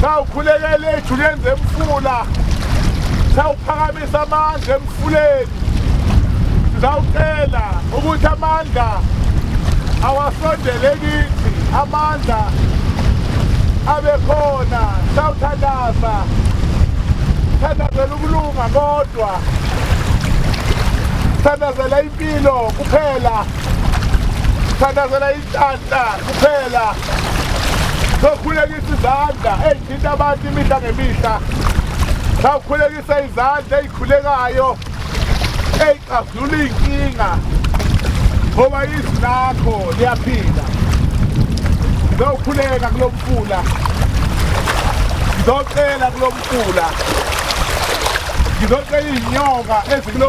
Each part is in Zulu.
sawukhulekela ejuleni zemfula sawuphakamisa amandla emfuleni sizawucela ukuthi amandla awasondele kithi amandla abe khona sawuthandaza thandazela ukulunga kodwa thandazela impilo kuphela thandazela Tanhla kuphela sokhulekisa izandla eyithinta abantu imihla ngemihla sawukhulekisa izandla eyikhulekayo eyixazulula iy'nkinga ngoba izwi lakho liyaphila ngizokhuleka kulo mfula ngizocela kulo mfula ngizocela iy'nyoka ezikulo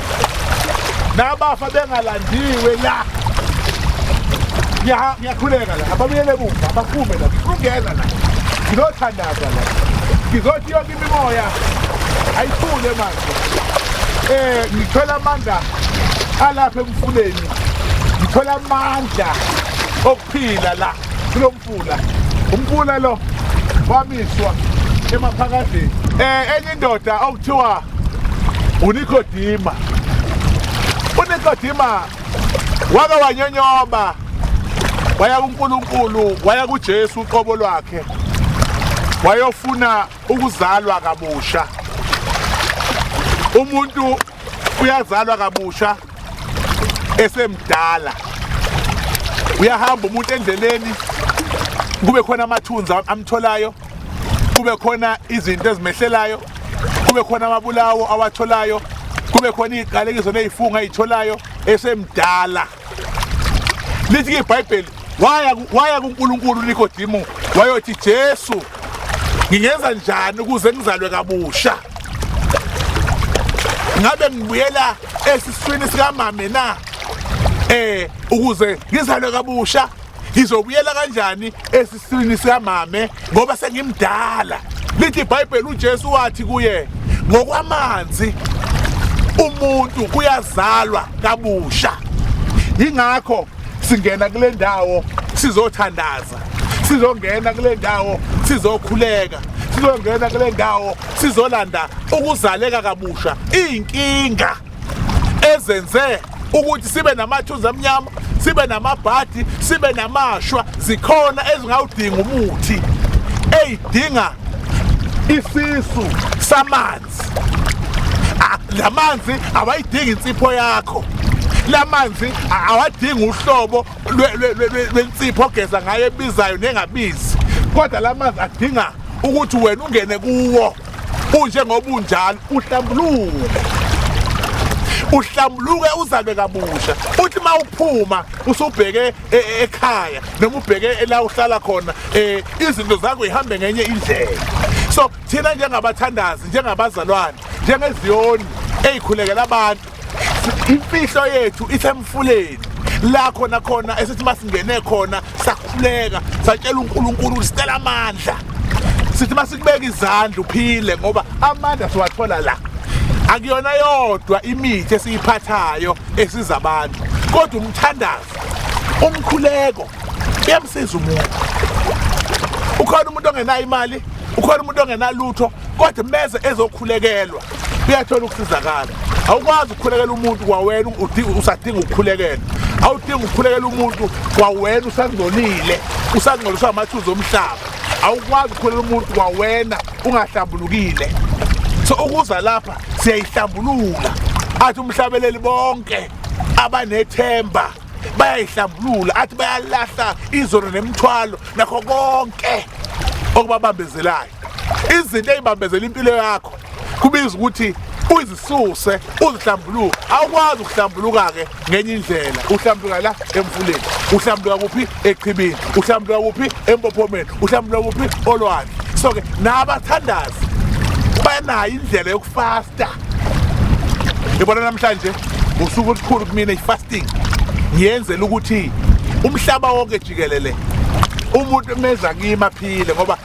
nabafa bengalandiwe la ngiyakhuleka la ababuyele kumva abaphume la ngifungela la ngizothandaza la ngizothi yonke imimoya ayithule manje eh ngithola amandla alapha emfuleni ngithola amandla Phila la kulo mfula umfula lo wamiswa emaphakadeni eh enye indoda okuthiwa unikodima unikodima wake wanyonyoba waya kuNkulunkulu waya kuJesu uqobo lwakhe wayofuna ukuzalwa kabusha umuntu uyazalwa kabusha esemdala uyahamba umuntu endleleni kube khona amathunzi amtholayo kube khona izinto ezimehlelayo kube khona amabulawo awatholayo kube khona iziqalekiso nezifungo ayitholayo esemdala lithi ke ibhayibheli waya waya kuNkulunkulu uNikodimo wayothi Jesu ngingenza njani ukuze ngizalwe kabusha ngabe ngibuyela esiswini sikamame na eh ukuze ngizalwe kabusha ngizobuyela kanjani esiswini sikamame ngoba sengimdala lithi ibhayibheli ujesu wathi kuye ngokwamanzi umuntu kuyazalwa kabusha yingakho singena kule ndawo sizothandaza sizongena kule ndawo sizokhuleka sizongena kule ndawo sizolanda ukuzaleka kabusha iy'nkinga ezenze ukuthi sibe namathunzi amnyama sibe namabhadi sibe namashwa zikhona ezingawudinga umuthi eyidinga isisu samanzi ah, lamanzi awayidingi insipho yakho lamanzi awadingi uhlobo lwensipho ogeza ngayo ebizayo nengabizi kodwa lamanzi adinga ukuthi wena ungene kuwo unjengoba unjalo uhlambuluke uhlambuluke uzalwe kabusha uthi uma uphuma usubheke e, e, ekhaya noma ubheke ela uhlala khona eh, izinto zakho ihambe ngenye indlela so thina njengabathandazi njengabazalwane njengeziyoni eyikhulekela abantu imfihlo yethu isemfuleni la khona khona esithi masingene khona sakhuleka satshela uNkulunkulu ukuthi sicela amandla sithi masikubeka izandla uphile ngoba amandla siwathola la akuyona yodwa imithi esiyiphathayo esiza abantu kodwa umthandazo umkhuleko uyamsiza umuntu ukhona umuntu ongenayo imali ukhona umuntu ongenalutho kodwa meze ezokhulekelwa uyathola ukusizakala awukwazi ukukhulekela umuntu kwawena usadinga ukukhulekela awudinga ukukhulekela umuntu kwawena usangcolile usangcoliswa amathuzi omhlaba awukwazi ukukhulekela umuntu kwawena ungahlambulukile so ukuza lapha siyayihlambulula athi umhlabeleli bonke abanethemba bayayihlambulula athi bayalahla izono nemithwalo nakho konke okubabambezelayo izinto eyibambezela impilo yakho kubiza ukuthi uzisuse uzihlambuluke awukwazi ukuhlambuluka-ke ngenye indlela uhlambuluka la emfuleni uhlambuluka kuphi echibini uhlambuluka kuphi empophomeni uhlambuluka kuphi olwandle so-ke nabathandazi banayo indlela yokufasta ngibona namhlanje usuku olukhulu kumina i-fasting ngiyenzela ukuthi umhlaba wonke jikelele umuntu meza kimi aphile ngoba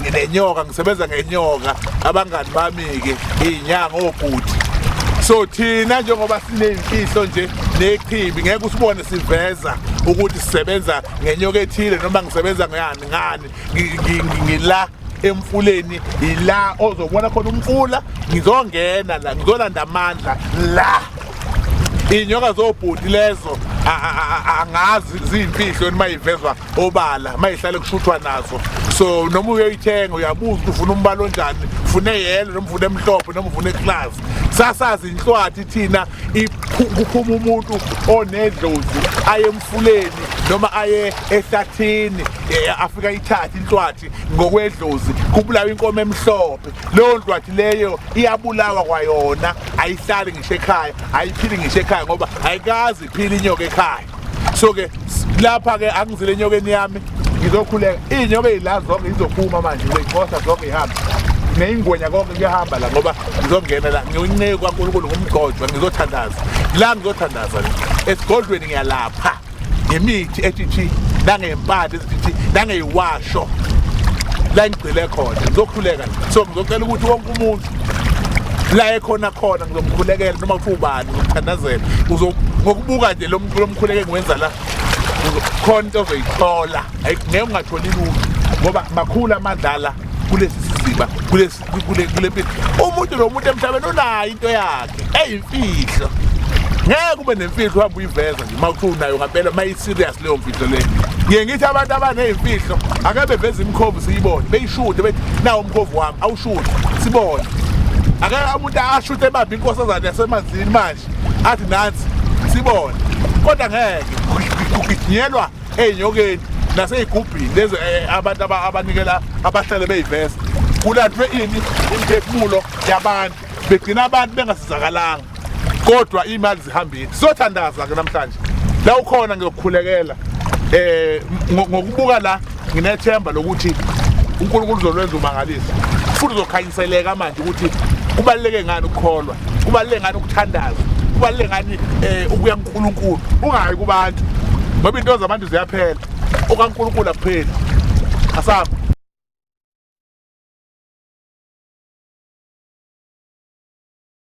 nginenyoka ngisebenza ngenyoka abangani bami-ke iy'nyanga obhuti so thina njengoba sineyimfihlo nje nechibi ngeke usibone siveza ukuthi sisebenza ngenyoka ethile noma ngisebenza ngani ngani ngila emfuleni yila ozobona khona umfula ngizongena la ngizolanda amandla la iy'nyoka zobhuti lezo angazi ziyimfihlo yoni uma yivezwa obala mayihlale kushuthwa nazo so noma uyoyithenga uyabuza ukuthi ufuna umbala onjani ufuna eyelo noma ufuna emhlophe noma ufuna eklazi sasazi inhlwathi thina kuphuma umuntu onedlozi aye emfuleni noma aye ehlathini e, afika ithathe inhlwathi ngokwedlozi kubulawa inkomo emhlophe leyo nhlwathi leyo iyabulawa kwayona ayihlali ngisho ekhaya ayiphili ngisho ekhaya ngoba ayikazi iphila inyoka ekhaya so ke lapha ke angizile enyokeni yami ngizokhuleka iy'nyoka ey'la zonke izophuma manje ngizeyixosha zonke ihambe neyingwenya konke kuyahamba la ngoba ngizongena la ngiwunceku kwankulunkulu ngumgojwa ngizothandaza la ngizothandaza le esigodlweni ngiyalapha ngemithi ethithi nangey'mpande ezithithi nangeyiwasho la ngigcile khona ngizokhuleka so ngizocela ukuthi wonke umuntu la ekhona khona ngizomkhulekela noma kuthiwa ubani ngizomthandazela ngokubuka nje lo mkhuleko engiwenza la khona into ozoyithola ngeke ungatholi lutho ngoba makhulu amadlala kulesi siziba kule mpilo umuntu nomuntu emhlabeni unayo into yakhe eyimfihlo ngeke ube nemfihlo uhamba uyiveza nje uma kuthiwa unayo ngampela serious leyo mfihlo leyo ngiye ngithi abantu abaneyimfihlo ake beveze imikhovu siyibone beyishude bethi nawo umkhovu wami awushude sibone ake umuntu ashute ebambe inkosazane yasemanzini manje athi nansi sibone kodwa ngeke kuginyelwa eyinyokeni naseyigubhini lezi eh, abantu abanikela abahlale beyivesa kulandwe ini imiphefumulo yabantu begcina abantu bengasizakalanga kodwa imali zihambile sothandaza ke namhlanje la ukhona ngiyokukhulekela eh ngokubuka la nginethemba lokuthi uNkulunkulu uzolwenza umangalisa futhi uzokhanyiseleka manje ukuthi kubaluleke ngani ukukholwa kubaluleke ngani ukuthandaza kubaluleke ngani eh ukuya kuNkulunkulu ungayi kubantu ngoba into zabantu ziyaphela okaNkulunkulu akupheli asaba